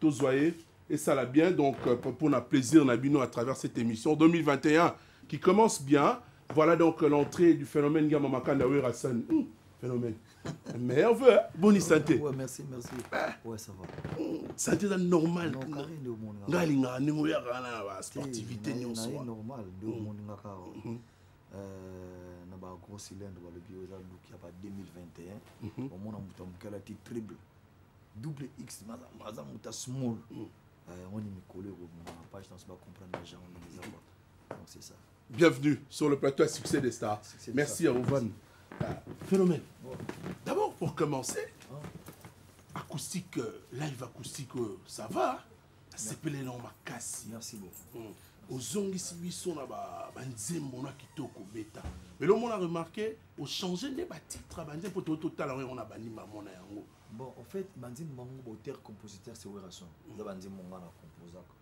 tozwa ye esala bien donc euh, pour na plaisir na bino à travers cette émission 2021 qui commence bien voilà donc l'entrée du phénomène Gama Makanda Werasan hmm, phénomène meilleur vœu hein. bonne santé ouais, merci merci eh. ouais ça va hmm, santé eza normal nga alingaka ndenge oyaka wana na basportivité nyonso normal nde hmm. omoningaka euh, na bagros cylindre balobi oyo eza luki ya ba 2021 omona moto ya moke alati triple double x aza moto small hmm. eh, yango ni mikolo ekobima page danse bacomprendre genre ndenge eza kwa donc c'est ça bienvenue sur le plateau à succès des stars succès merci à ovan ah, phénomène bon. d'abord pour commencer hein? acoustique euh, live acoustique euh, ça va asepele nango makasi merci beaucoup hmm. ozongisi biso na banzembo na kitoko beta lelo omona remarke ochange nde batitre ya banzembo mpo toyei totala yango yango na banima mona yango bon en fait banzembo bango bauteur compositeur se werason eza banzembo nga na composaka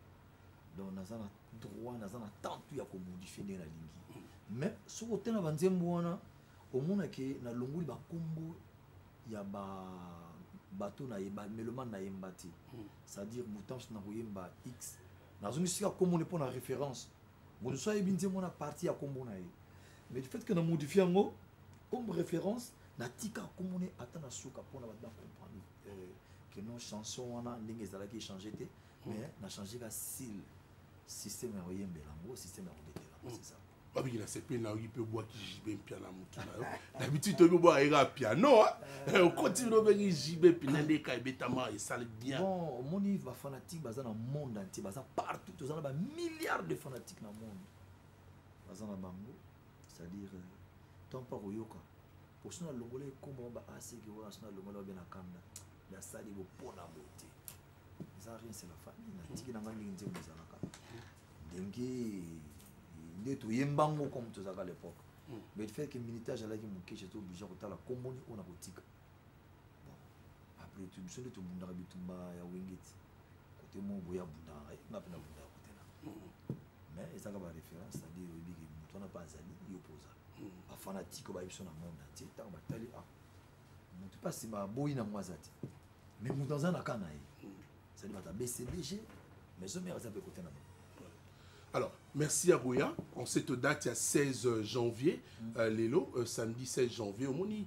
donc naza na droit naza na temps tu ya komodifie ndenge nalingi mais soki otala banzembo wana omonake nalongoli bakombo ya ba bato na ye bamelomane nayemba te hmm. c'est-à-dire mutamso nakoyemba x nazongi sika kombo ne mpo na référence moto so ayebi nzembo na parti ya kombo na ye mais du fait que na modifie yango comme référence natika nkombo ne ata na suka mpona bato bacomprendre euh, que non chanson wana ndenge ezalaki echange te hmm. mais na change ka sile système ya koyembela yango système ya kobetela hmm. c'est ça babiki nasepeli na yoki mpe obwaki jibe mpia na motu na yo dabitude toyebi obwaka yeka piano eh, okoti bino obengi jibe mpina nde eka ebetama esali bien bon omoni bafanatique baza na monde entier baza partout toza na bamilliard de fanatique na monde baza na bango c'est-à-dire euh, tant pas koyoka po so nalongola ekombo ma baaseki wana so nalongola babe na kanda nasali bopona bo te eza rien c'est la famille natiki nanga ndenge nzembo ezalaka ndenge nde toyemba ngo comme tozalaka l'époque hmm. mais le fait que militaire azalaki moke je to obligé kotala komboni oyo nakotika bon après tout biso nde tobundaka bitumba ya wengeti kote moko boye abundaka ngai nga mpe nabundaka kote na mais ezaka baréférence c'est-à-dire oyebi ke moto wana mpe azali yo mpe oza bafanatike oyo bayebi biso na monde entier ntango batali a ah, moto mpe asima aboyi na mwa aza te mais moto aza na ka na ye ezali bato ya bcbg maison mare aza mpe kote na bango Alors, merci à Goya. En cette date, il y a 16 janvier, mm. euh, Lélo, euh, samedi 16 janvier, au Moni,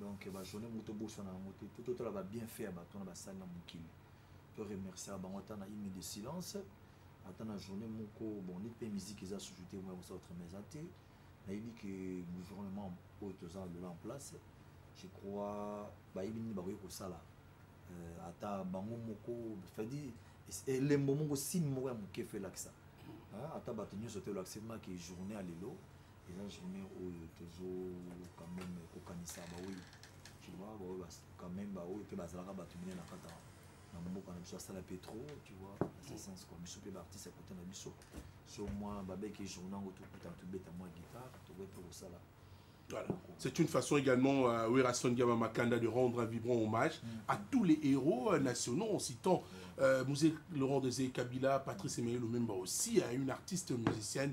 donc ba journée moko tobosana yango te to totala ba bien fait ya bato wana basali na mokili to remerciaka bango ata na imi de silence ata na journée moko bon neti mpe musique eza susu te moya kosala autrement eza te nayebi ke gouvernement oyo toza lola en place je crois bayebi nini bakoki kosala euh, ata bango moko cetadire elembo moko signe moko ya moke fo elakisa ata bato nyonso te olakisaki maki journée ya lelo eza journée oyo tozo quand même kokanisa baoyo tu vois baoyo quand même baoyo mpe bazalaka bato mine na kata na mboka na biso asala mpe trop tu vois na ce sens kua biso mpe baartiste ya kota na biso so mwa babeke journa yango tokutana tobeta mwa guitare tokoki mpe kosala Voilà. C'est une façon également à euh, Werrason Diama Makanda de rendre un vibrant hommage mm. à tous les héros euh, nationaux en citant euh, Moussé Laurent Dezé Kabila, Patrice Emmanuel Lumemba aussi, à hein, une artiste musicienne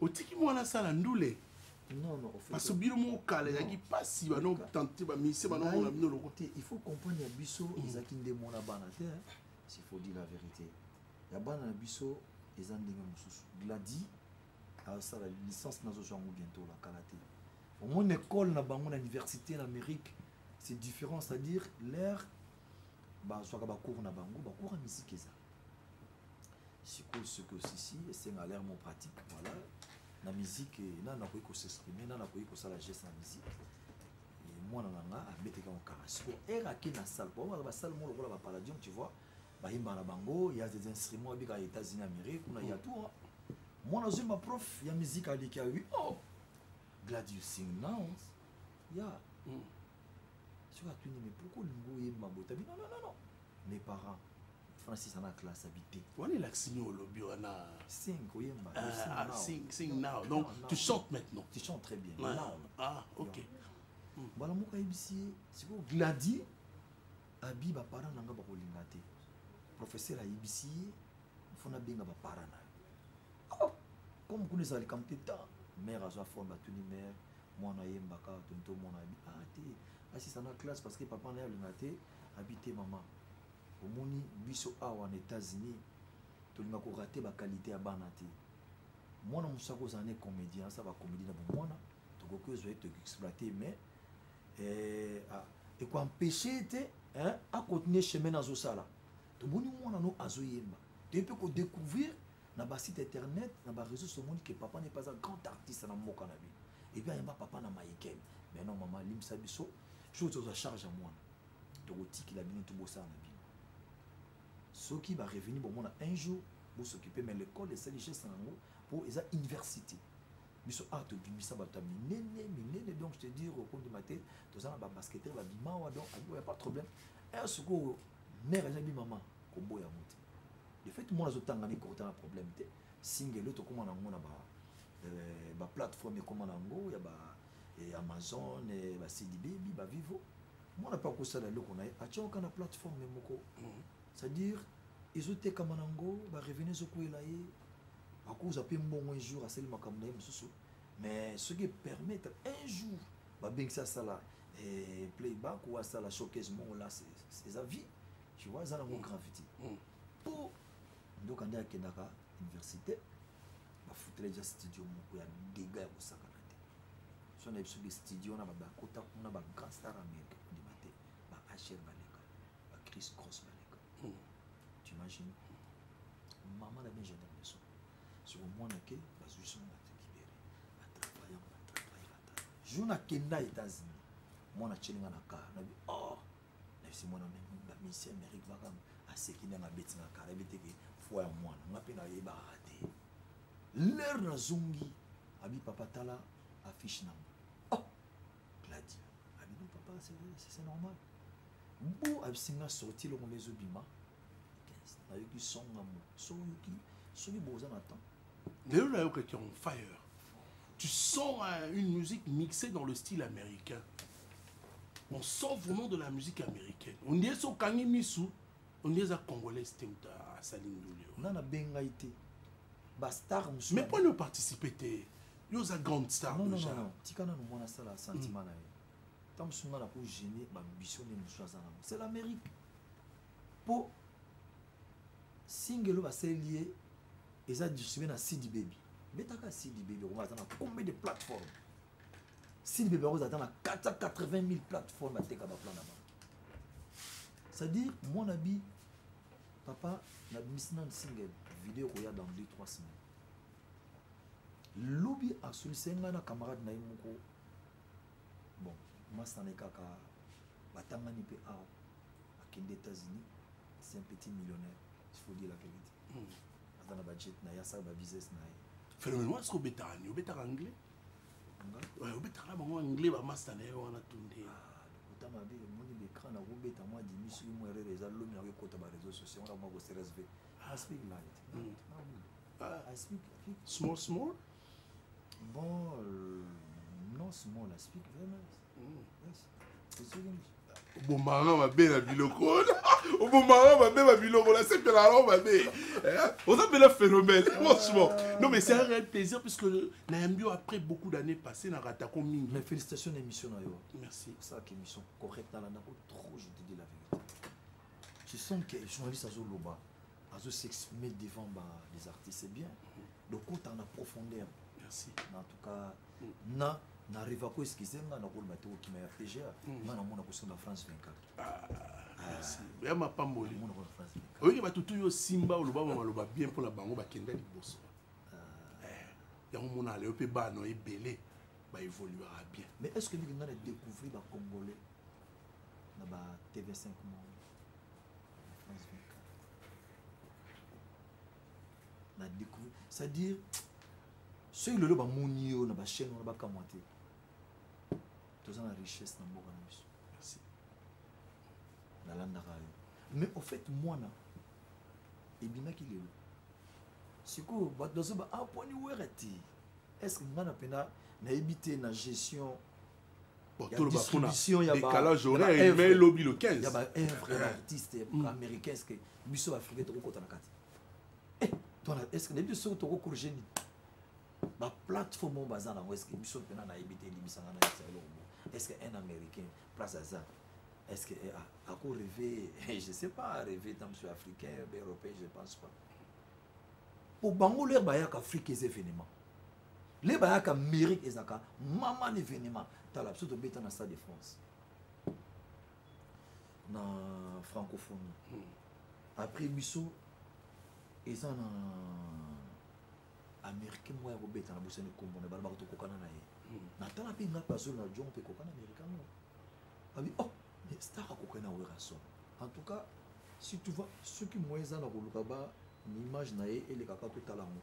otiki mwana asala ndule parce bino moko kala ezalaki mpasi bano tante bamise banomona bino loko te il faut comprendre ya biso mm. ezalaki nde mona bana te s'il faut dire la vérité ya bana na biso eza ndenge mosusu gladi asala licence nazozwa yango bientôt la kala te omoni école na bango na université na amérique c'est différent c'est à dire l'air bazwaka bacours na bango bacours ya misiki eza sikoyo soki osisi esenga l'air mon pratique voilà na musique eh, nani nakoki kosexprime nani nakoki kosala geste na musique eh, mwana na nga abeteki yango kara sikoyo ere ake na sale baomaka basale mo lokola bapaladium tu vois bayimba na bango ya des instruments ebika ya états-unis amérique kuna ya tour mwana azwimba prof ya musique aleki awi oh gladius sing now ya yeah. mm. soki atuni mais pourquoi olingi oyeba mabota bino non non non mes parents francis ana classe habité wana elakisi nio olobi wana sing oyemba ah, ah, sing sing now donc tu chantes maintenant tu chantes très bien now ah ok hmm. mbala moko ayebisi ye sikoyo gladi abi baparent na nga bakolinga te professeur ayebisi ye fo nabenga baparent na yo comme kuna ezala likambo te ta mare azwa forme batuni mare mwana ayemba kaka toni tomona abi ah te asisa na classe parce que papa na ye alinga te abi te mama omoni biso awa na états-unis tolinga korate bakalite ya bana te mwana mosusu akozala ne comédien asala bacomédie na bomwana tokoki ozwa ye toexploite mais eh, ah, ekoempeshe te akontinue chemin azosala tomoni mwana no azoyemba toye mpe kodécouvrir na ba site internet na ba réseaux somoni que papa n'est pas un grand artiste na mboka na bino epuis ayamba papa na mayiken mais non mama alimisa biso jour tozwa charge ya mwana tokotikela bino tobosana na bino soki barevenu bomona un jour bosokipe mais l'école esali geste na yango mpo eza université biso awa tobimisa bato ya minene minene donc je te dire okondima te toza na babasketteur babimawa donc abiboya pas problème aya sikoyo mare ajabi mama koboya yango te de fait mwana azotanga na ekota na problème te singelo tokóma na yango na ba euh, baplateforme ekóma na yango ya ba eh, amazon eh, basidi bebi bavivo mwana mpe akosala eloko na ye atyaoka na plateforme moko mhm. c'est-à-dire ezotekama na yango barevenu ezokwela ye akozwa mpe mbongo un jour asali makambo na ye mosusu mais soki epermettre un jour babengisi asala eh, playback ou asala showcase mongo la eza vie tu vois eza nango grave te mpo ndoka nde akendaka université bafutela deja studio moko ya dega ya kosakana te so na biso studio wana babakota kuna bagrand star américain kondima te ba hr baleka ba chris cross baleka hmm. tu imagine mama na bien jardin biso soko mwana ke bazwi so na libere batravaille batravaille batravaille jour nakenda états-unis mwana atyeli nga na kar nabi oh nayebisi mwana bamisi ya amerike makambo aseki ndenge abeti na kara yebi teke foi ya mwana nga mpe nayebaka te lere nazongi abi papa tala affiche nango oh! gladi abi no papa c'est normal bo abisi nga sorti eloko nde ezobima nayoki songa mo soki boza na temps lelo nayokaki on fire tu sens euh, une musique mixée dans le style américain on sent vraiment de la musique américaine on dirait so okangi misu on dirait eza congolais te moto asali ndule nga nabengai te bastar mosusu mais poni oparticipe te yo oza grande star déjà tika nano mwana asala sentiment na ye ntango mosusu nga nako gene bambition nde mosusu aza nango c'est l'amérique mpo single oyo basaleli ye eza distribue na sidi baby betaka sidi baby okoma aza na combien de plateforme sidi baby akozala ata na 480 000 plateforme ateka baplan na bango c'est-à-dire mon abi papa nabimisi nanu single video ekoya dans 2 3 semaine lobi asolise ngai na camarade na ye moko bon masana ye kaka batangani mpe awa akende états-unis c'est un petit millionnaire il faut dire la vérité hmm. aza na bajet na ye asala babusiness na ye phénomène wana soki obetaka nini obetaka anglais obetaka na bango anglais bamasta na ye wana to nde ata mabe omoni baécran nakobeta mwa dimi soki mwa erreur eza lomi nako ekota ba réseau sociaux wana mwa kosersv i speak light hmm. ah, ah. i speak small small bon euh, non small i speak very nice obomaka mabe na biloko wana obomaka mabe na biloko na sepela yango mabe eh? oza mpela phénomène franchement non mais c'est un réel plaisir puisque nayambi yo après beaucoup d'années passé na ratako mingi mais félicitations na émission na yo merci osalaka émission correcte nalandako trop je te dis la vérité je sens que journaliste azoloba azo s'exprimer devant ba, les artistes c'est bien donc kotana profondeur merci en tout cas na na reva ko excuse nga na kolma te okima ya pga hmm. nga na mona kosonga france 24 ah, ah. ya mapamboli oyoki bato tu yo simba oloba bamaloba bien mpo na bango bakenda liboso ah. eh, yango mona leo mpe bana ebele baévoluera bien mais est ce que ndenge nga na découvrir bacongolais na ba tv5 monde na découvrir c'est à dire soki lelo bamoni yo na bachaîne wana bakamwa te toza na richesse na mboka na biso merci nalandaka yo mais au fait mwana ebimaki lelo sikoyo bato bazoba aponi ah, wera te est ce que ngai na mpena nayebi te na gestion ya distribution ya décalage horaire mais lobi le 15 ya ba œuvre ya artiste mm. américain est-ce que biso africain toko kota na kati eh toi est-ce que biso soki toko corriger ni ba plateforme oyo baza nango est-ce que biso mpena nayebi te elimbisanga na yesa eloko moko est-ce que un américain place aza est-ce que ako rêve je sais pas rêve ta monsieur africain européen je pense pas po bango lere bayaka afrique eza événement le bayaka mairie ezalaka mama na événement tala biso tobeta na stade de france na francophonie hmm. après biso eza na américain moko ya kobeta na bosani nkombo na balobaka tokokana na ye hmm. natala mpe nga mpe azoli na jon mpe kokana américain moko abi oh mais star akokani na werason en tout cas si tu vois soki moyen eza na koluka ba image na ye elekaka totala yango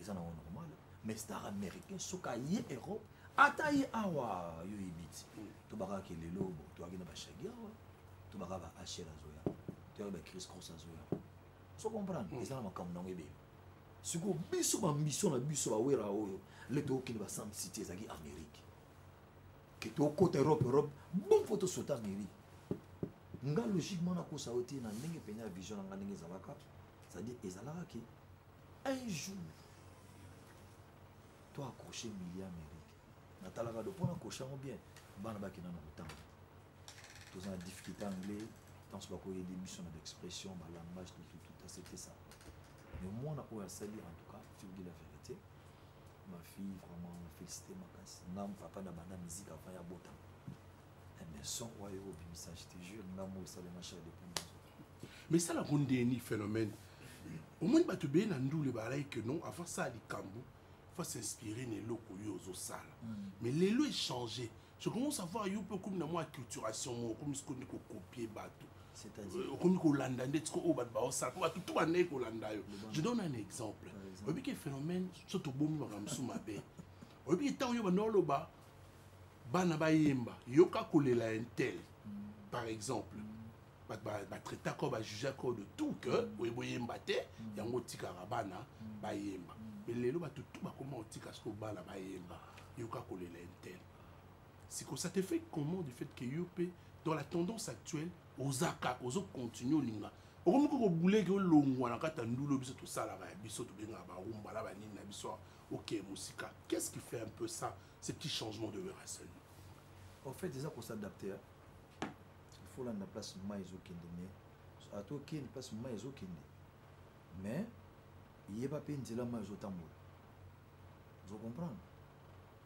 eza nango normal mais star américain soki aye europe ata ye awa yo oyebi ti tobakaka ke lelo bo toyaki na bashagi awa tobaka ba hel azoya toyaki ba cris cross azoya so comprendre eza na makambo nango ebele sikoyo biso bambiso na biso bawera oyo le tokokende ba sam city ezalaki amérique ke tokota europe europe bon fo tosota amérique nga logiquement nakosa yo te na ndenge mpenza ya vision na nga ndenge ezalaka c'est-à-dire ezalaka ke un jour to accroche mili amérique natalaka do mpo nakroche yango bien bana bakenda na motambo toza na difficulté anglais ntanso bakoyede biso na baexpression balangage tutututa c'était ça mais mwana oyo asali en tout cas figure de la vérité ma fille vraiment félicité makasi ngam papa na banda musique avant ya botama mais son oyo obimisa je te jure ngam oyo esalema char depuis mais sala ko ndeni phénomène omoni bato ebele na ndule balaki que non avant sala likambo faut s'inspirer na eloko yo ozosala mm. mais lelo echange je commence à voir yo mpe okomi na mwa acculturation moko okomi siko nde kokopie bato euh, okomi kolanda nde tiko oyo bato baosala mpo bato to bandeki kolanda yo je donne un exemple oyebi ke phénomène so tobomi makambo mosusu mabe oyebi ke ntango yo banda oloba bana bayemba yoka kolela ya intel mm. par exemple mm. batraitaka oyo bajugaka oyo de tout que mm. oye boyemba te mm. yango otikaka bana mm. bayemba mais lelo bato tu bakoma otika soki obana bayemba yoka kolela intel sikoyo ça te fait comment du fait que yo mpe dans la tendance actuelle oza kaka ozo continue olinga okomi ko kobuleke olongwa na kati ya ndulo biso tosalaka ya biso tobengaka barumbala banini na biso ok mosika qu'est ce qui fait un peu ça ces petits changements de veracel en fait eza ko s'adapter folanda place mai ezokende mais ata okende place mai ezokende mais yeba mpe nzela mai ezotambola ozo comprendre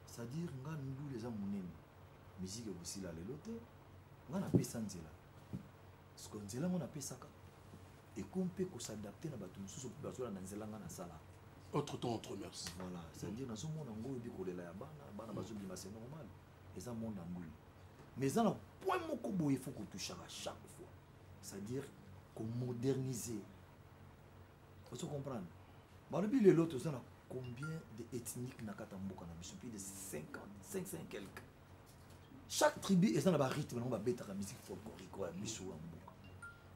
c'est-à-dire nga ndule eza monene miziki ekosila lelo te nga napesa nzela siko nzela ngo napesaka ekomi mpe kosadapte na bato mosusu mpe bazolanda nzela nga nasala autre temps autre merci voilà c'est-à-dire nazomona ngo oyebi kolela ya bana bana bazobima c'est normal eza monde ya mbuli mais eza na point moko boye faut kotushaka chaque fois c'est à dire komoderniser ozo comprendre balobi lelo toza na combien de ethnique na kati ya mboka na biso plus de 50 55 quelque chaque tribu eza na barythme nango babetaka musique folklorique oyo ya biso ya mboka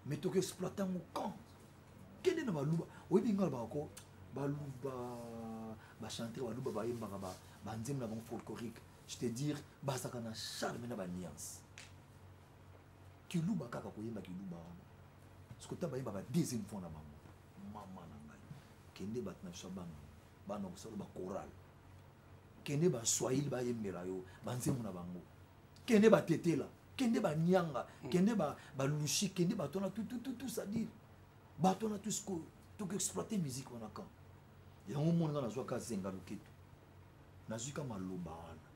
mais tokoexploite yango quand kende na baluba oyebi ngai alobaka ko baluba bachanteur baluba bayembaka banzembo na bango folklorique je te dire bazalaka na charme na baniance kiluba kaka koyemba kiluba wana soki ota bayembaka deuxième fois na bango mama na ngai kende bato na biso ya bana bana kosala bakorale kende baswahili bayembela yo banzembo na bango kende batetela kende banyanga mm. kende balushi kende bato wana tutututu sadire bato wana tu sikoyo tokoexploite musike wana kan yango omoni nga nazwaka azenga loketo nazwi ka maloba wana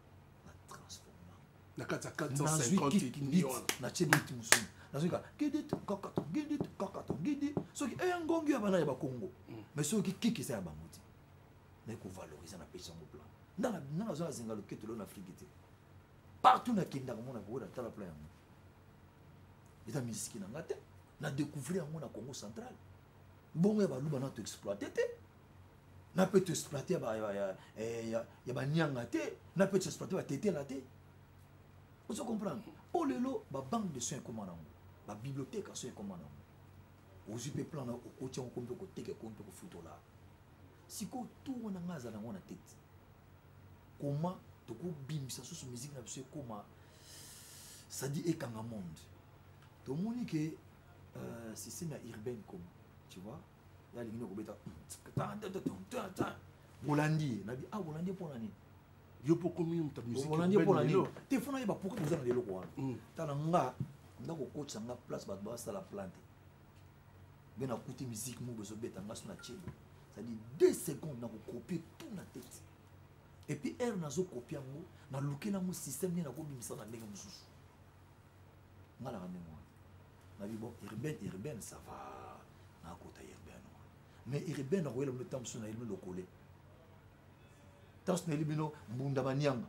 na transforma na kati ya 450 natie biti mosusu nazwi ka gidi kakata gidi kakata gidi soki eya eh, ngongi ya bana ya bakongo mm. mais soki kiki eza ya bango te naye kovalorize na pesi yango plan nanga nazwa azenga loketo leo na afriki te partout nakendaka mona boye na tala plan yango eza miziki na nga te na découvrir yango na congo central mbongo ya baluba na toexploite te na mpe toexploite ya banianga eh, te na mpe toexploite batetela te ozo comprendre mpo lelo babanque de soins ekoma nango babibliothèque aso ekoma nango ozwi mpe plan na okoti yango ko mpe koteka eko mpe kofutola sikoyo tour na ngai aza nango na tete comment tokobimisa susu musique na biso ekoma sadi ekanga monde tomoni ke euh, système ya urbaine comme tu vois ya lingi nakobeta bolandi ye nabi ah bolandi ye mpo na nini yo mpo okomi moto musikolandi ye mpo na nini te fo nayeba pourkui boza na leloko wana tala nga nga kokotisa nga place bato basala plante ngai nakuti musique moko ezobeta ngai so na tielo c'est-à-dire deux secondes nakokopie tout na tete epuis heure nazokopie yango nalukela yango système nde nakobimisa na ndenge mosusu ngai naka ndenge wana nabi bon urbaine urbaine ça va nakota urbaine wana mais urbaine akoyela bino ntango mosusu nayeli bino lokole ntango mosusu nayeli bino mbunda manianga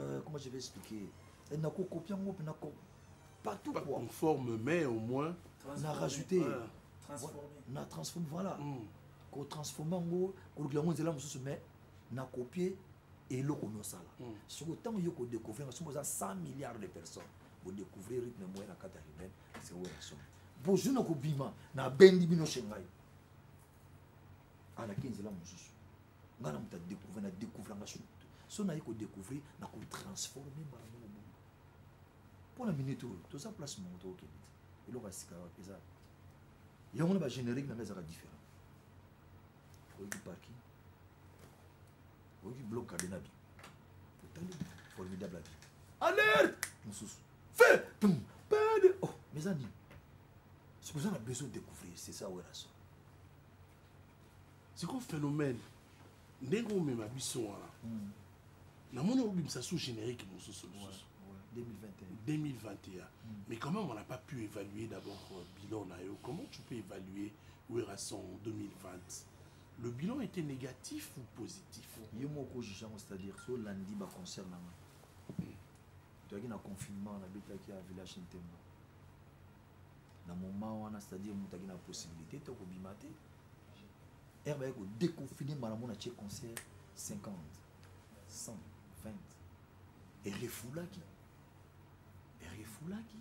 euh, comment je vais expliquer eh, nakokopia yango mpe nako partout pas quoi. conforme mais au moins na rajouter na transforme voilà mm. kotransforme yango kolukela yango nzela mosusu mais na copie eloko omi osala mm. soki ntango yo kodécouvrir nga soki oza 100 milliards de personnes bodécouvrir rythme moye na kati ya ruben parce que oyo na somi bozwi na kobima nabendi bino chez ngai alaki nzela mosusu nga na moto adécouvre na découvranga su so naye kodécouvrir na kotransforme mbala moko bongo mpo na minute oyo toza place mongo tokokende te eloko ya sika wapi eza yango wana bagénérique na nga ezaka différent oyoki parking oyoki bloc cadenabi otali formidable abi alerte mosusu fe pede oh mais eza nini soki oza na besoin découvrir c'est ça werrason siko phénomène ndenge omema biso wana hmm. namoni obimisa sous générique mosusu mosusu 2021. Hmm. Mais comment on n'a pas pu évaluer d'abord euh, bilan Nayo Comment tu peux évaluer Werrason 2020 Le bilan était négatif ou positif Yemoko Jijan, c'est-à-dire sur lundi, bah, concert là. Hmm. Tu as un confinement, on habite à Village Ntemba. na moment wana c'est-à-dire moto aki na possibilité te kobima te ere baye kodeconfine malamu na tie concert 50 100 20 erefulaki erefulaki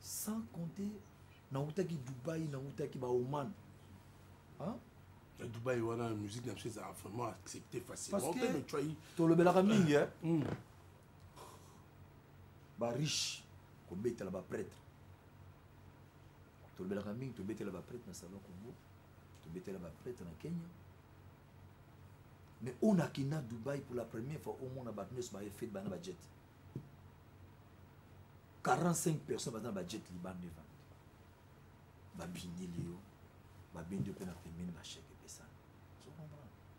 sans compter nautaki dubai nautaki baoman hein? ya dubai wana musique na biso ezalaka vraiment accepté facilement tolobelaka mingi eh? mm. ba riche kobetela ba prêtre tolobelaka mingi tobetela ba prêtre na salon congo tobetela ba prêtre na kenya mais on a kina dubai pour la première fois au monde bato nyonso baye fete bana bajet 45 personnes baza na bajet libanda evandi babindeli yo babendi yo mpe na pembeni basheke epesana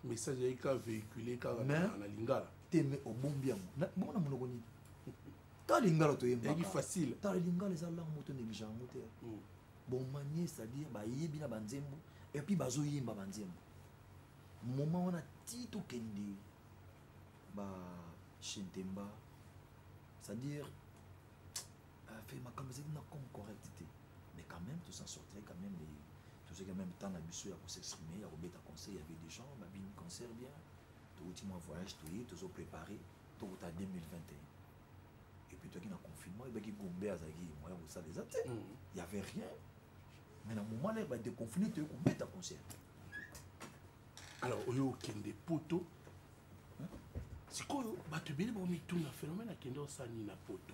message ayaki kaka véhicule kaka na lingala te me obombi yango bongo na monoko nini ta lingala toyembaki facile ta lingala eza langue moto neglige yango te hmm. bomanie c'est-à-dire bayebi na banzembo epuis bazoyemba banzembo moment wana ti tokende ba shentemba c'est-à-dire a fait makambo ezali na comme correct te mais quand même tous en sortirait quand même les tozwaki en même temps na biso ya kosexprime ya kobeta conseil ya vedechan babini concert bien touti mwa voyage toye tozo préparé tokuta 2021 et puis toyaki na confinement ebaki gombe azalaki moyen kosala eza te y avait rien mais na moment là badeconfine toye kobeta concert alors oyo okende poto sikoyo bato ebele baomituna phénomène akende osani na poto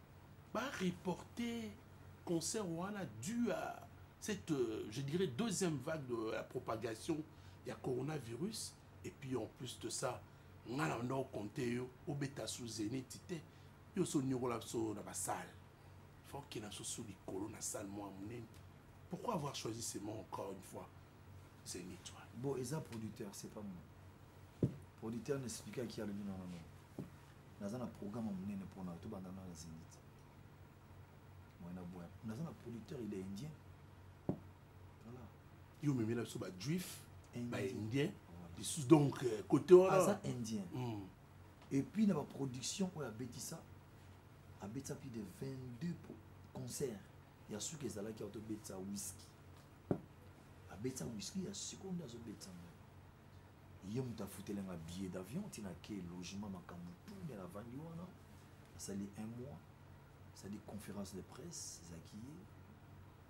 ba reporter concert wana dû à cette, euh, je dirais, deuxième vague de la propagation du coronavirus. Et puis en plus de ça, on a compté au bêta sous zénith, yo so nyokola biso na basale faut que na soso likolo na salle mwa monene pourquoi avoir choisi ce mot encore une fois zénith wana bon eza producteur c'est pas moi producteur n'explika ki alobi na nano naza na programme monene mpo na yo tobanda na na zenite mwana boya naza na producteur il est indien voilà yo omemela biso bajuif baindien lisusu donc euh, côté wana aza indien hmm. et puis na baproduction oyo abetisa abetisa plus de 22 concert ya suki ezalaki autobetisa whisky abetisa whisky ya sikoyo nde azobetisa ngo ye moto afutelanga billet d'avion ntina ke logement makambo tune navandi wana asali un mois asali conférence de presse ezalaki ye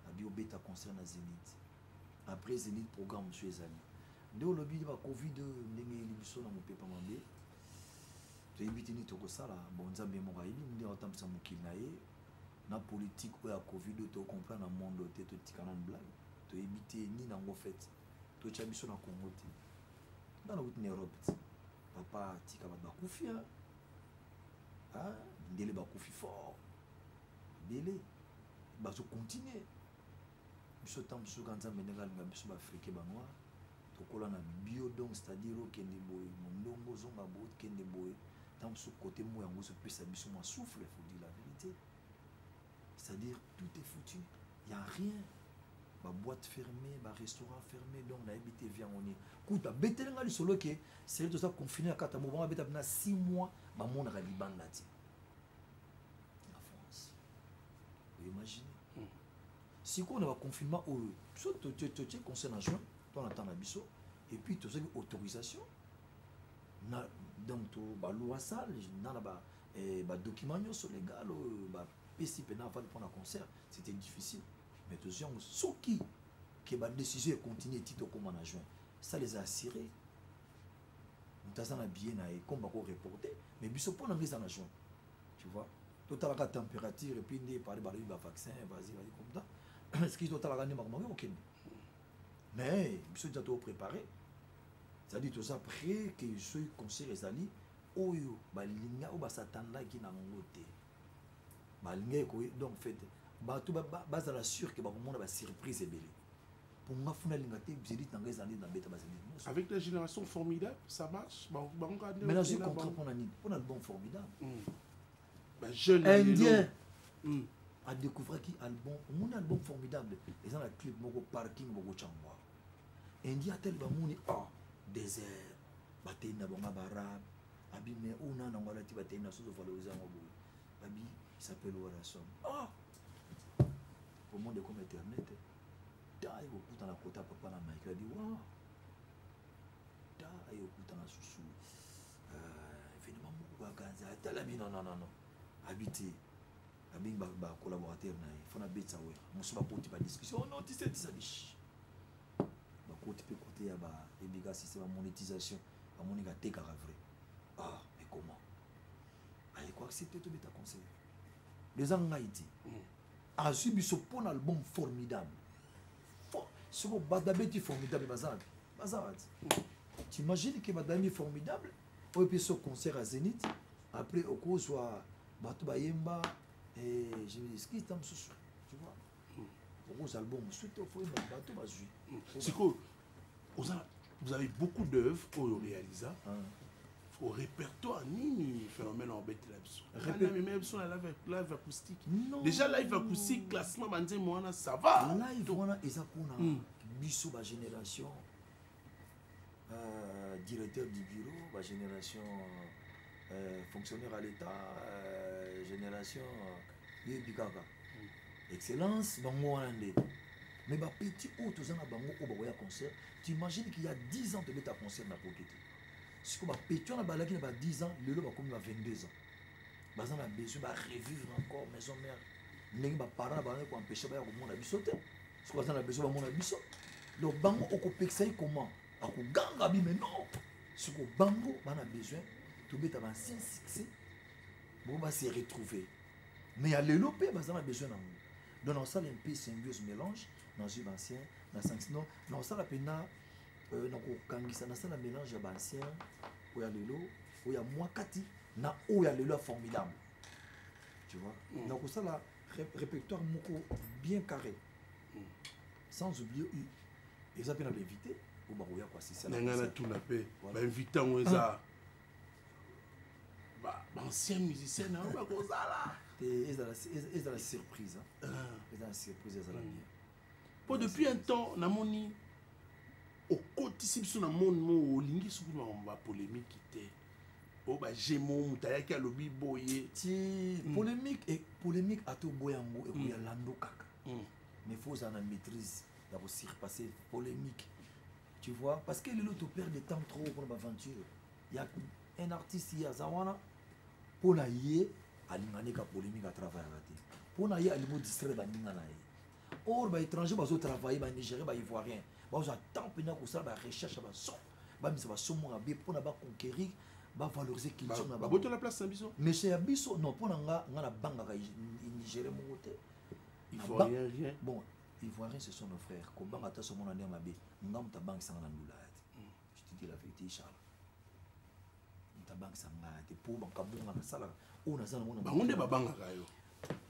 abi obeta concert na zénith après zénith programme mosusu ezali nde olobi ba covid ndenge eyeli biso na mopepa mabe toyebi te nini tokosala bon nzambe moko ayebi ndenge akotambwisa mokili na ye na politike oyo ya covid oyo tokocomprendre na monde oyo te totika nano blage toyebi te nini yango fete totya biso na congo te nga nakuti na europe te papa tika bato bakufi ya ah, mindele bakufi fort ebele bazokontinue biso ntango mosusu ka nzambe ndenge alinga biso baafrike banoir tokola na bio donc c'est-à-dire okende boye mondongo ozonga boye okende boye ntango mosusu kote mo yango ezopesa biso mwa souffle faut dire la vérité c'est-à-dire tout est foutu il y a rien ba boîte fermée ba restaurant fermé donc na habité vie yango nini kuta betele nga lisolo ke c'est tout ça confiné na kata mobanga beta na 6 mois ba monaka libanda ti na France vous imaginez hmm. sikoyo na ba confinement oyo biso totie conseil na juin to na temps na biso et puis tozaki autorisation na donc to ba loi sale na na ba Et bah, document nyoso légal euh, bah, pesi pena avant de prendre un concert, c'était difficile. Mais tous gens ceux qui que bah décision continue tito comme en juin. Ça les a assurés. Mutazana bien na comme bah reporter, mais biso pona mise en juin. Tu vois totalaka température epuis nde epali balobi bavaccin vasi vasi comme ça eskizi totalaka nde makambo yango okende mais biso deja too préparé c'est-à-dire toza près ke soki concert ezali oyo balinga oyo basatandaki na yango te balingaki koye donc fete bato bazala sur ke bakomona basurprise ebele mpo nga funa alinga te zedit na ngai ezala nde nabeta bazedit nyonso avec la génération formidable ça marche mais nazwi contrat mpo na nini mpo na album formidable hmm. indien hmm. adécouvraki album omoni album formidable eza na clip moko parking bokocangoa indien atali bamoni a ah, désert batei na bango barabe abi me oyo na nango alati batei na sozo valorize yango boye abi sapele wala somme ah! au monde ekoma internet ta ekokutana kota papa na mike abi wa ta ekokutana susu euh, evenema moko bakanzi atala bino nanano abi te abengi bacollaborateur na ye fo nabetisa wera mosusu bakoti badiscussion oh non tisetisa bishi bakoti mpe kote ya baebika système ya monétisation bamoni katekaka vrai ah mais comment aye koaccepte tobeta conseil eza ngai te hmm. azwi biso mpo na album formidable soko badabeti formidable baza wapi baza wapi hmm. t'imagine ke badami formidable oyo mpe so concert ya zénith après okozwa bato bayemba eh, je me dis kista mosusu tu vois okozala bongo soki tofoyeba bato bazwi sikoyo oza vous avez beaucoup d'œuvres oyo orealisa ah. au répertoire nini phénomène obetela biso amemela biso na live acoustique déjà live acoustique classement banzembo wana ça va live wana eza mpona hmm. biso bagénération euh, directeur du bureau ba génération euh, fonctionnaire à l'état euh, génération euh, yebi kaka mm. excellence bango wana nde mais bapetit oyo toza na bango oyo bakoya concert tu imagine qu'il y a 10 ans tobeta concert na poke te sikoyo bapetit wana balaki na ba 10 ans lelo bakomi ba 22 ans baza na besoin barevivre encore maison mère ndenge baparent na bango ekoempeshe baya komona biso te soki aza na besoin bamona biso donc bango okopekisa ye comment akoganga bime non siko bango bana besoin tobeta bancien succès bango base retrouver mais ya lelo mpe baza na besoin na yango donc nakosala mpe symbiose mélange nazwi bancien na sansino nakosala mpena euh, nakokangisa nasala mélange ya bancien oyo ya lelo oyo ya mwa kati na oyo ya lelo ya formidable tu vois mm. nakosala répertoire moko bien carré hmm. sans oublier eza mpe na bainvité oyo bakoya koasisana ngai natuna mpe bainvité yango ah. eza baancien musicien na yango bakozala ezala surprise ezala surprise ezala bien po depuis un temps namoni okotisi biso na monde moo olingi soki makambo bapolémiki te o bajemo moto ayaki alobi boye ti hmm. polémique e polémique ata oboya yango ekoya hmm. lando kaka hmm. mais faut ozala na maîtrise ya kosurpasse polémique tu vois parce que lelo toperde de temps trop mpona baaventure ya un artiste ye aza wana mpo na ye alingani ka polémique atravayaka te mpo na ye alingi odistraire baninga na ye or ba étranger bazo travailler ba nigérien ba ivoirien bazo temps pena kosala ba recherche ya baso bamisa basomo mabe mpona baconquérir bavaloriser culture na babotola place na biso monsieur ya biso non mpo na nga nga nabangaka nigérien moko te ivoirien bon ivoirien ce sont nos frères kobanga ata somona nde mabe nga moto abangisanga na ndula ya te je te dis la vérité charles bango nde babangaka yo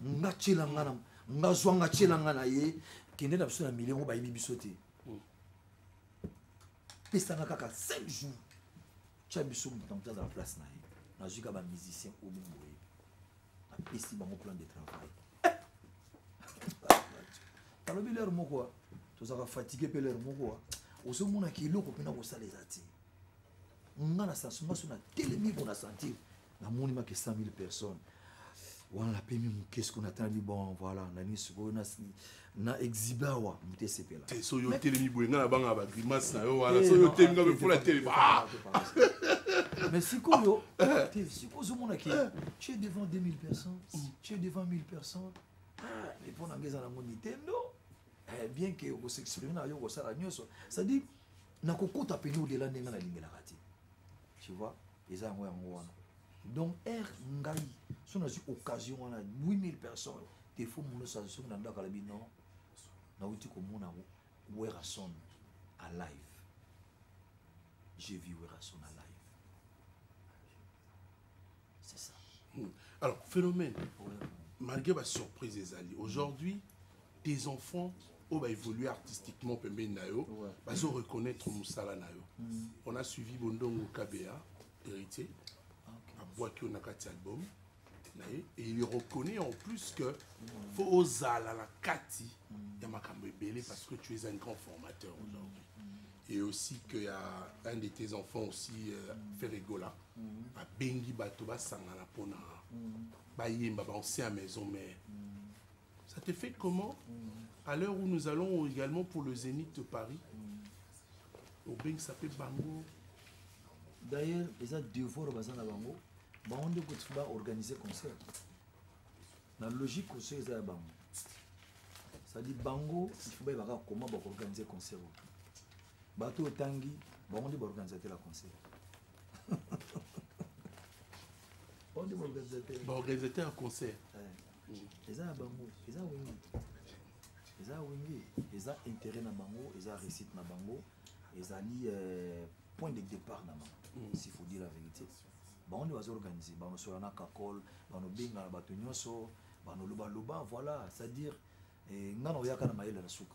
nga tyela nga na nga zwa nga tyela nga na ye kende na biso na milio yango bayebi biso te hmm. pesanga kaka 5 jours tya biso moto na moto azala place na ye nazwi ka bamusicien oyo boye napesi bango plan de travail alobi lere moko tozalaka fatigue mpe lere moko ozomonaka eloko mpena kosala eza te nga na sensement so natelemi ko na sentir namoni make 100 000 personnes wana napemi moke siko natalami bon voilà nani sikoyo na exibe awa moto esepela te so yo telemi boye nga na banga bagrimace na yo wana eh, so yo telemi nga mefula telemi ah! mais sikoyo ah! te sikoyo ozomona ke eh! tu es devant 2000 personnes mm. tu es devant 1000 personnes ah, mais mpo na nga eza nango nintendo eh, bien ke okosexprime na yo okosala nyonso c'est-à-dire nakokota pene odela ndenge nalingelaka te tu vois eza yango yango wana donc r ngai so nazwi occasion wana 8000 personnes defo mono sa soki na ndakala bino nauti komona werrason a live j'ai vu werrason a live c'est ça hmm. alors phénomène malgré ba surprise ezali aujourd'hui tes enfants oyo baévolue artistiquement pembeni na yo bazo reconnaître mosala na yo hmm. on a suivi bondongo kabea héritier abwaki yo na kati ya album na ye et il reconnaît en plus que fo ozala na kati ya makambo ebele parce que tu es un grand formateur aujourd'hui et aussi que ya un de tes enfants aussi euh, ferregola mm. abengi bato basangana mpona bayemba bancien ya maison mère ça te fait comment à l'heure où nous allons également pour le zénith de paris obengisa mpe bango d'ailleurs eza devoir baza na bango bango nde kutu baorganize concert na logique concert eza ya bango cestadi bango ifu bayebaka koma bakoorganize concert oyo bato otangi bango nde baorganisateur ya concert baorganisateur ya concert eza ya bango eza wengi eza wenge eza intérêt na bango eza réussite na bango ezali euh, point de départ na bango mm. s'il faut dire la vérité bango nde bazoorganize banosola na kakol banobengana bato nyonso banolobaloba voilà c'est-à-dire eh, ngai naoyaka na mayele na suka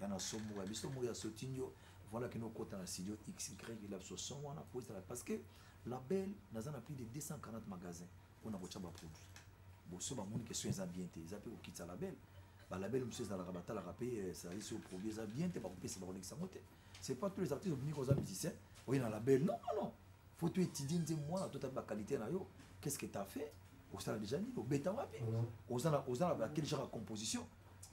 ya na somo ya biso moko ya sotindio voilà kino okota na studio xy elabso son wana po ezala parce que label naza na plus de 240 magasin mpona kotya baproduit boso bamoni ke soin eza bien te eza mpe kokitisa label balabel mosusu ezalaka batalaka mpe eh, ezali so produit eza bien te bakopesa bakolekisa yango te c'est pas tous les artistes obimi koza musicien oye na label non non faut to étudie nze mwana to tabi baqualité na yo qu'est ce que t'as fait osala déjà nini obeta wapi oza na quel genre ya composition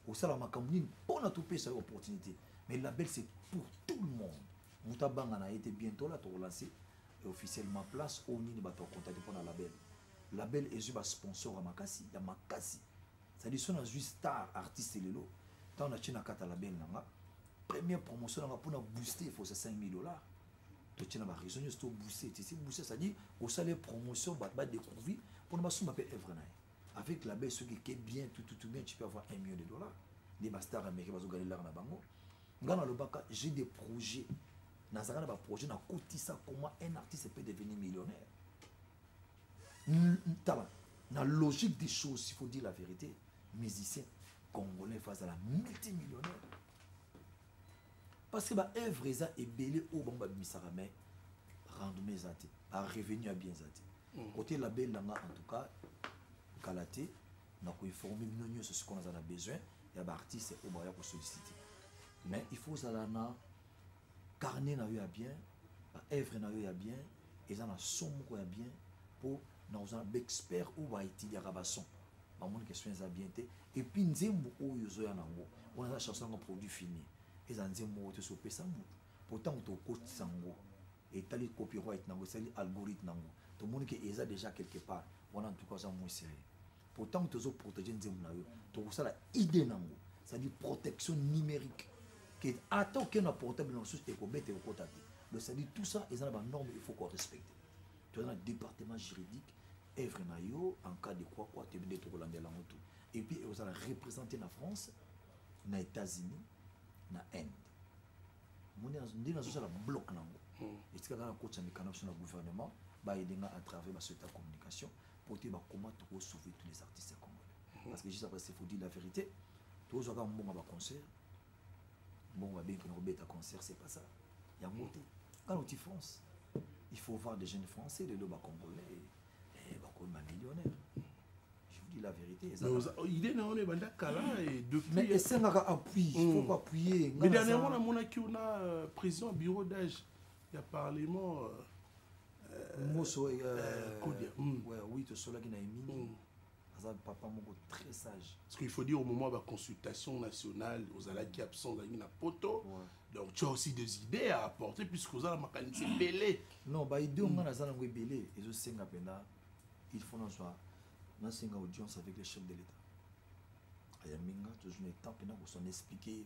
osala makambo nini mpo na topesa yo opportunité mais label c'est pour tout le monde moto abanga na ye te bientôt la tokolance officiellement place oyo nini bato bakontakte mpo na label label ezwi basponsor ya makasi ya makasi cestadire so nazwi star artiste lelo ntango natye na kata label na nga première promotion na nga mpo na booste efosa 5000 dollars totye na bareseau nyonso tobooste tisi booste cestadire osala promotion bato badécouvrir mpo na basomba mpe evre na ye avec la baisse soki eke bien tututu bien tu peux avoir un million de dollars nde bastar américain bazogalelaka na bango ngai nalobaka j'ai des projets nazalaka na baprojet nakotisa comment un artiste peut devenir millionnaire tala na logique des choses il faut dire la vérité musicien congolais fo azala multimillionnaire parce que baœuvre eza ebele oyo bango babimisaka mai rendement eza te barevenu ya bien eza te Kote la benda nga en tout cas kala te na ko informer bino nyoso sikoyo naza na besoin ya ba artistes oyo baya ko solliciter mais il faut ozala na carnet na yo ya bien ba œuvre na yo ya bien eza na son moko ya bien mpo na ozala baexpert oyo baetiliaka bason bamoni question eza bien te epuis nzembo oyo ozoya na yango wana eza chanson yango produit fini eza nzembo moko te sopesa motu mpo ntango tokotisa yango etali copyright nango esali algorithme nango tomoni ke eza déjà quelque part wana en tout cas aza moins sérieux po ntango tozo protéger nzembo na yo tokosala idée nango c'est-à-dire protection numérique que ata okende na portable na mosusu ekobeta ekokota te donc c'est-à-dire tout ça eza na banorme il faut korespecte toza na département juridique œuvre na yo en cas de quoi quoi toyebi nde tokolandela yango tout et puis ekozala représente na france na états-unis na inde omoni nde nazosala bloc nango hmm. etika nga nakotisa mikano biso na gouvernement baede nga à travers basociété ya communication mpo te bakoma tokosauve tous les artistes congolais hmm. parce que juste après c'est faut dire la vérité tozwa kaka mbongo ya baconcert mbongo babengi mpona kobeta concert c'est pas ça yango te hmm. kaka oti france il faut voir des jeunes français lelo bacongolais eh, bakomi bamillionnaire je vous dis la vérité oh, idée na wana ebanda kala mais esengaka appui hmm. faut appuyer mais dernièrement namonaki yo na euh, président bureau d'âge ya parlement euh, euh, moso kodia hmm. oui tosolaki na emini hmm. aza papa moko très sage parce qu'il faut dire au moment ba consultation nationale ozalaki absent ozalaki na poto ouais. donc tu as aussi des idées à apporter puisque oza na makanisi ebele non ba idée onga naza nango ebele ezosenga mpenza il faut nazwa nasenga audience avec le chef de l'état ayambi nga tozwi na état mpenza kosana expliquer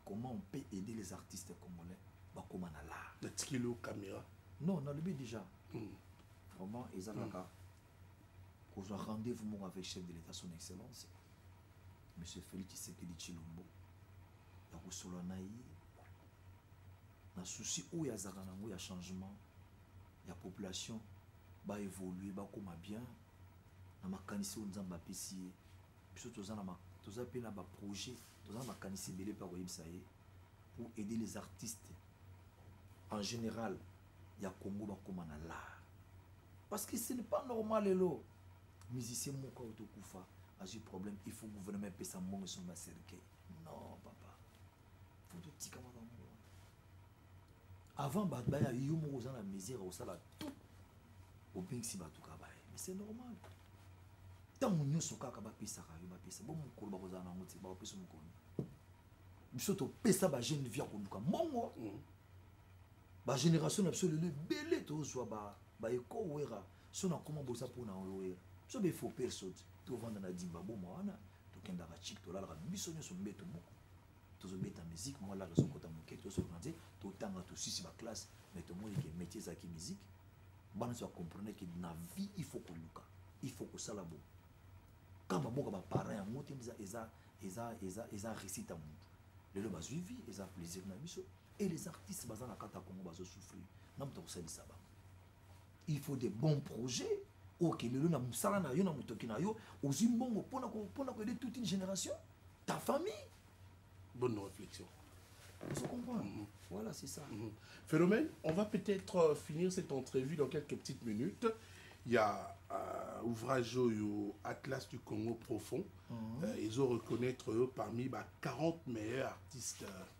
comment on peut aider les artistes congolais bakoma na lar natikeli yo caméra non nalobi déjà mm. vraiment ezalaka mm. kozwa rendez-vous moko avec chef de l'état son excellence monsieur félix tshisekedi tshilombo ya kosolola na ye na souci oyo azalaka na yango ya changement ya population baévolue bakóma bien na makanisi oyo nzambe apesi ye biso toza na toza mpe na baprojet toza na makanisi ebele mpe akoyebisa ye pour aider les artistes en général ya congo bakoma na lar parce que ce n'est pas normal lelo musicien moko auto kufa azwi problème il faut gouvernement epesa mbongo esomi baserkei non papa fo totika makambo avant bato baya yo moko oza na mesure osala tout obengisi bato ka baye mais c'est normal ntango nyonso kaka bapesaka yo bapesa bo mokolo bakozala na yango te bakopesa mokolo biso topesa bajeune vie ya koluka mbongo mm. ba génération na biso lelo ebele tozwa ba ba eko wera so na koma boza mpo na yo wera biso ba efo perso te tovanda na dimba boma wana tokendaka chik tolalaka biso nyonso mbeto moko tozobeta musique mwa laka ezokota moke tozoloka nze totanga tosisi baklasse mais tomoni ke métier ezalaki musique bana nyonso bacomprendre ke na vie il faut koluka il faut kosala bo ka baboka baparent yango te eza eza eza eza récite ya motu lelo bazwi vie eza plaisir na biso et les artistes baza na kata congo bazo souffrir na moto akosalisa bango il faut des bons projets oke lelo na mosala na yo na motoki na yo ozwi mbongo mpona koyede toute une génération ta famille bonne réflexion Vous comprenez mm -hmm. Voilà, c'est ça. Mm -hmm. Phénomène, on va peut-être euh, finir cette entrevue dans quelques petites minutes. Il y a euh, ouvrage au Atlas du Congo profond. Mm -hmm. euh, ils ont reconnaître eux parmi bah, 40 meilleurs artistes. Euh,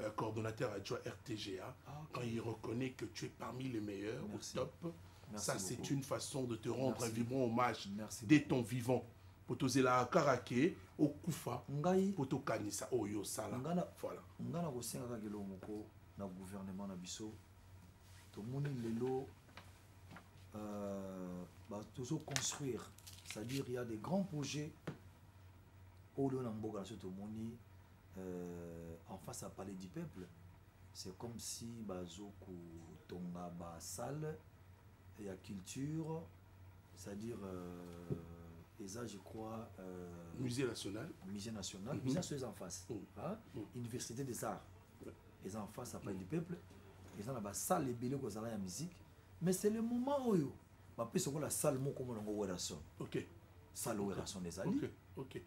euh, coordonnateur adjoint RTGA, ah, okay. quand il reconnaît que tu es parmi les meilleurs, Merci. au top, Merci ça c'est une façon de te rendre Merci. un vibrant hommage Merci dès beaucoup. ton vivant. mpo tozela kaka ke okufa ngai mpo tokanisa oyo osala voilà ngai nakosenga kaka eloko moko na gouvernement na biso tomoni lelo euh, tozoconstruire c'est-à-dire il y a des grands projets oyo lelo na mboka na biso tomoni euh, en face à palais du peuple c'est comme si bazo kotonga ba salle ya culture c'est-à-dire euh, eza je crois euh, musée national musée national mm -hmm. musée national eza en face mm -hmm. hein? mm -hmm. université des arts eza en face à palais mm -hmm. du peuple eza na ba salle ebele kozala ya musique mais c'est le moment oyo bapesa okola salle moko monango werrason okay. salle werrason ezali okay. okay.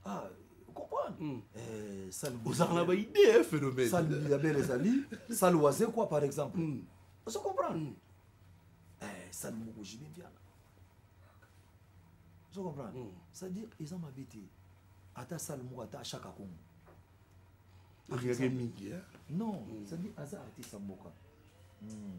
ah, comprendre mm. eh, ozalaka na baidee eh, phénomène sale ya bele ezali sale waze quoi par exemple mm. ozo comprendre mm. eh, sale moko jibe mpiana ozo comprendre mm. c'est à dire eza mabe te ata sale moko ata ashaka kongo akekake mingi non c'est à dire aza artiste ya mboka mm.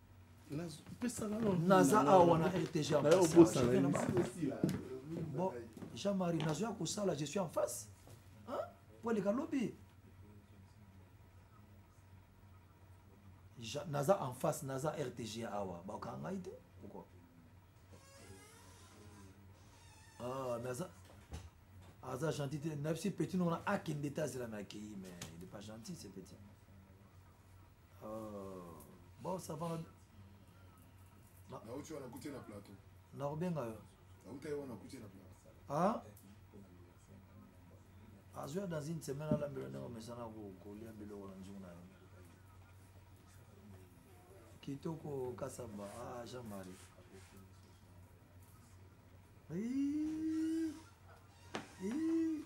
naza awa na rtg bon jean marie nazo ya kosala je suis en face po aleka lobi naza en face naza rtg awa bakanga ngai te pourquoi ah, mais aza aza gentil te na biso petit nongona akende te azela me akeyi mais il est pas gentil ce petit Oh, bon ça va na uti wana kuti na plateau na kobenga yo na uti wana kuti na plateau ah azwi ya dans une semaine alambela ndenge omesana kolia biloko na nzungu na yo kitoko kasamba ah jean marie Ii, ii.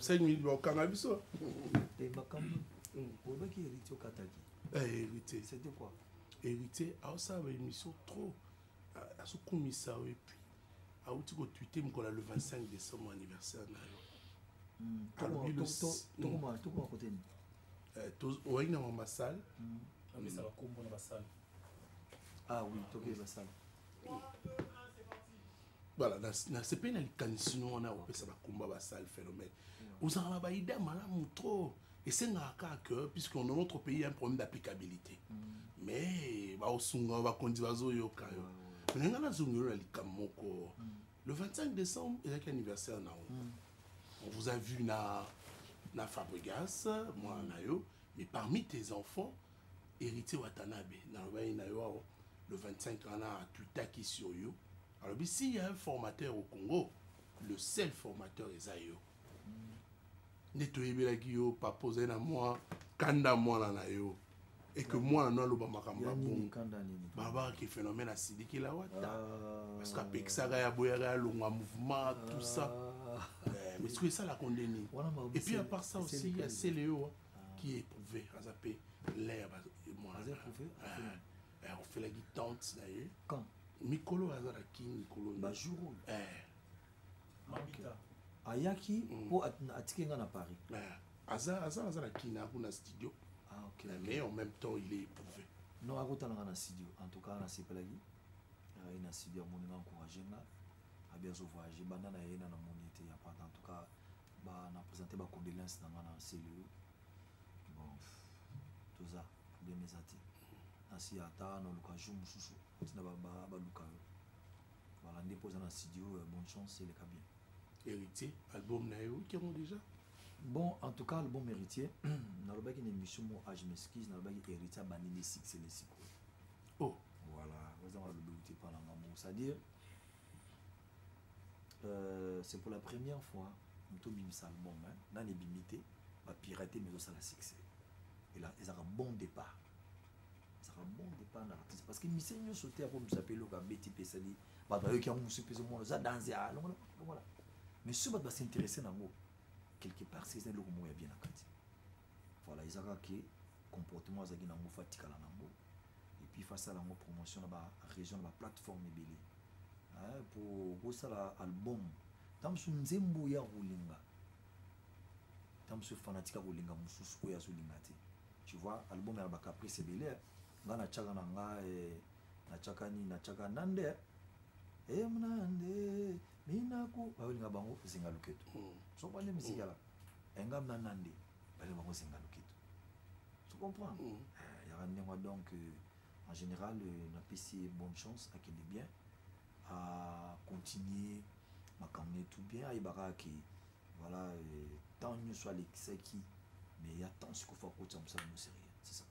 cinq minutes bakanga biso makambo olobaki héritier okataki héritier c'était quoi héritier aosala baémission trop azokumisa yo epuis auti kotwite mokolo ya le 25 décembre anniversaire na yo oyaki na mama sale ah oui tokei basala voilà nasepeli na likanisi no wana kopesa bakomba basale phénomène ozalaka na baida malamu trop esengaka kaka que puisque dans notre pays ya un problème d'applicabilité mm. mais baosunga bakonzi bazoyoka yo mais ngai nazongelo na likambo moko mm. le 25 décembre ezalaki anniversaire na yo mm. on vous a vu na na fabrigas mwana na yo mais parmi tes enfants Héritier Watanabe, na lobani na yo le 25 wana atwitaki sur yo alobi s'il y a un formateur au Congo le seul formateur eza yo nde toyebelaki yo papa ozali na mwa kanda mwana na yo et que mwana no aloba makambo ya bongo babaka ke phénomène asilikela wata ah. parce que apekisaka ya boyaka ya longwa mouvement tout ça ah. eh, mais soki esalako nde nini et puis à part ça aussi ya seleo hein. qui est éprouvé aza mpe l'air ofelaki tante na ye mikolo aza na kin mikolo bajour oyo eh. ayaki mpo mm. atike ngai na paris eh. aza aza aza na kin ako na studio ah, mais en même temps il est éprouvé non akotala ngai na studio en tout cas nasepelaki aye na studio amoni nga encourage nga abi azovoyage banda na ye na namoni ete ya pata en tout cas ba na présenter ba condoléances na nga na celeo bon toza problème eza te nasi ata naluka jour mosusu ntina baluka yo voilà nde mpo oza na studio euh, bonne chance eleka bien héritier album na ye oki yango déjà bon en tout cas album héritier nalobaki na émission mo age ah, mesquise nalobaki héritier abandi nde succès le sikoyo oh voilà oza malobi uti mpa na ngambo c'est à dire euh, c'est pour la première fois moto obimisa album hein? nani ebimi te bapirate mais ezosala succès ela ezalaka bon départ ezalaka bon départ na artiste parce que mise nyonso te akomisa mpe eloko abeti mpe esali bato bayoki yango mosusu mpe ezomona oza danse ya longola longola mais soki bato basinteresse nango quelque part seza eloko moko ya bien na kati Voilà, eza kaka ke comportement azalaki nango fa tikala nango et puis fa sala nango promotion na ba région na ba plateforme ebele hein, pour bosala album ntango mosusu nzembo ya kolinga ntango mosusu fanatika kolinga mosusu oyo azolinga te tu vois album ya bacaprice ebele eh. nga natyaka na nga eh, natyaka nini natyaka nande emnande eh. minaku bayolinga bango zinga loketo hmm. soko bande miziki yala engam na nande bale bango senga loketo tu comprends mm. eh, yaka ndenge donc euh, en général euh, napesi ye bonne chance akende bien acontinue makambo ne tout bien ayebaka ke voilà euh, temps nyonso alekisaki mais ya temps sikofa akotisa mosala mo sérieux c'est ça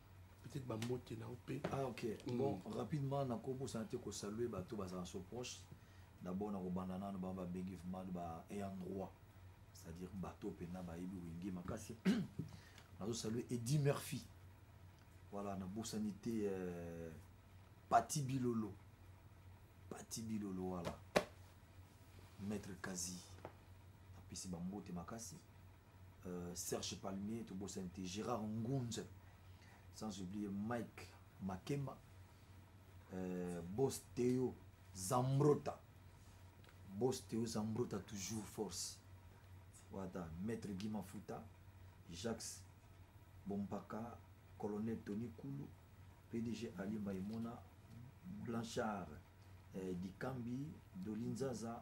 peut-être bambote na yo mpe ah ok mm. bon rapidement nakobosana te kosalue bato bazala so proche d'abord nakobanda nano bango babengi vraiment ba ayant droit c'est-à-dire bato mpenza bayebi wenge makasi nazosalue edi murphy voilà nabosani te euh, pati bilolo pati bilolo voilà maître kazi napesi bambote makasi euh, serge palmier tobosani te gérard ngunze sans oublier mike makema euh, bos teo zambrota bos teo zambrota toujours force wata maître guy mafuta jacques bompaka colonel tony kulu pdg ali maimona blanchard eh, dikambi dolinzaza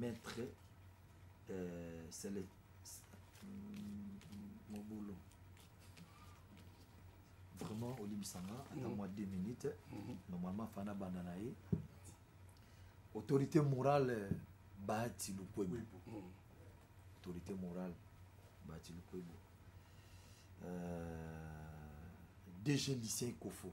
maître euh, sele mobulu vraiment olimbisa nga ata mwa 2 minutes mhm. normalement fana banda na ye autorité morale bahati lukwebo mhm. autorité morale bahati lukwebo euh, dg lycée kofo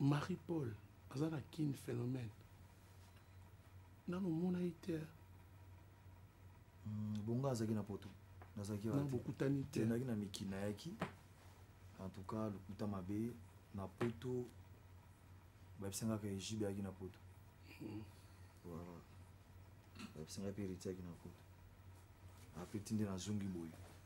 marie paul aza na kin phénomène nano omonaki te hmm, bongo azalaki na poto nazalaki bokutani te naki na mikili nayaki en tout cas lokuta mabe na poto bayebisangaka ejibe ayaki na poto hmm. voilà bayebisangaka mpe eritiaki na poto apeti nde nazongi boye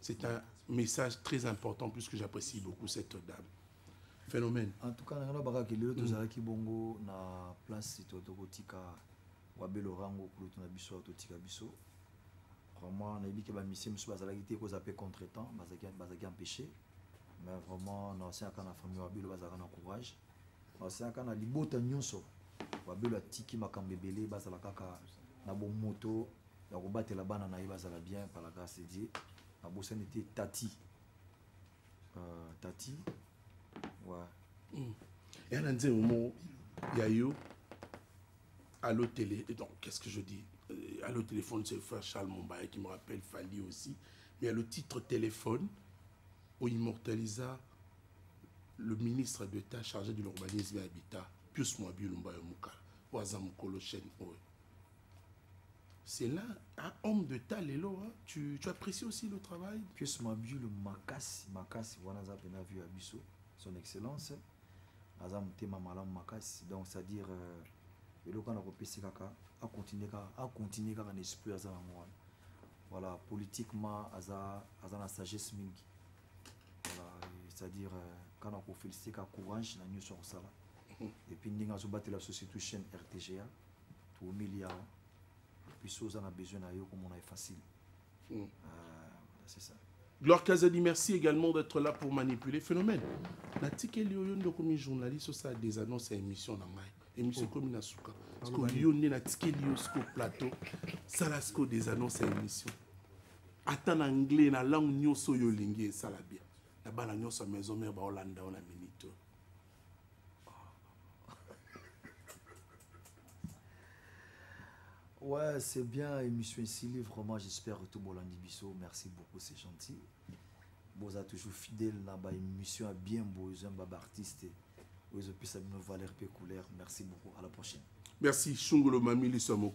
C'est un message très important puisque j'apprécie beaucoup cette dame. Phénomène. En tout cas, nous avons que le tozala ki bongo na place to to kotika wa belorango kulo to na biso to tika biso. Vraiment, na yebike ba mission musu bazala ki te ko zape contretemps, bazaki bazaki empêcher. Mais vraiment, na sia kana famille wa belo bazala na courage. Na sia kana libota nyonso wa belo atiki makambo ebele bazala kaka na bomoto ya kobatela bana na ye bazala bien par la grâce de dieu nabosani te tati uh, tati wa mm. ya na nzembo moko ya yo allo télé donc qu'est ce que je dis euh, allo téléphone c'est frère charles mombaya qui me rappelle fali aussi mais allo titre téléphone o immortalisa le ministre d'état chargé de l'urbanisme et habitat pius moabi lumbayo mokala oyo aza mokolo chaîne oyo C'est là, un homme de ta lelo, hein? tu, tu apprécies aussi le travail Pius Mabiulu Makasi, Makasi, voilà, ça a vu à Bissot, son excellence. aza motema malamu makasi donc c'est à dire euh, eloko wana kopesi kaka acontinue kaka acontinue kaka na esprit aza nango wana voilà politiquement aza aza na sagesse mingi voilà c'est à dire euh, kana kofélicite ka courage na nyonso ya kosala mhm. et puis ndenge azobatela société chaîne rtga toumeli awa puis oza na besoin na yo komona ye facile mm. ah, c'est ça Gloire Kazadi, merci également d'être là pour manipuler. Phénomène. natikeli yo yo nde okomi journaliste osala des annonces ya émission na ngai émission ekomi oh. na suka siko yo nde natikeli yo siko plateau sala siko des annonces ya émission ata na anglais na langue nyonso oyo olingi esala bien na bana nyonso ya maison mare baolanda yo na minute Ouais, c'est bien, émission Sili, vraiment, j'espère que tout Bolandi Bisso, merci beaucoup, c'est gentil. Boza toujours fidèle na ba émission à bien beau, j'aime ba artiste. Ozo pisa bino valeur pe couleur. Merci beaucoup, à la prochaine. Merci Shungolo Mamili Samoko.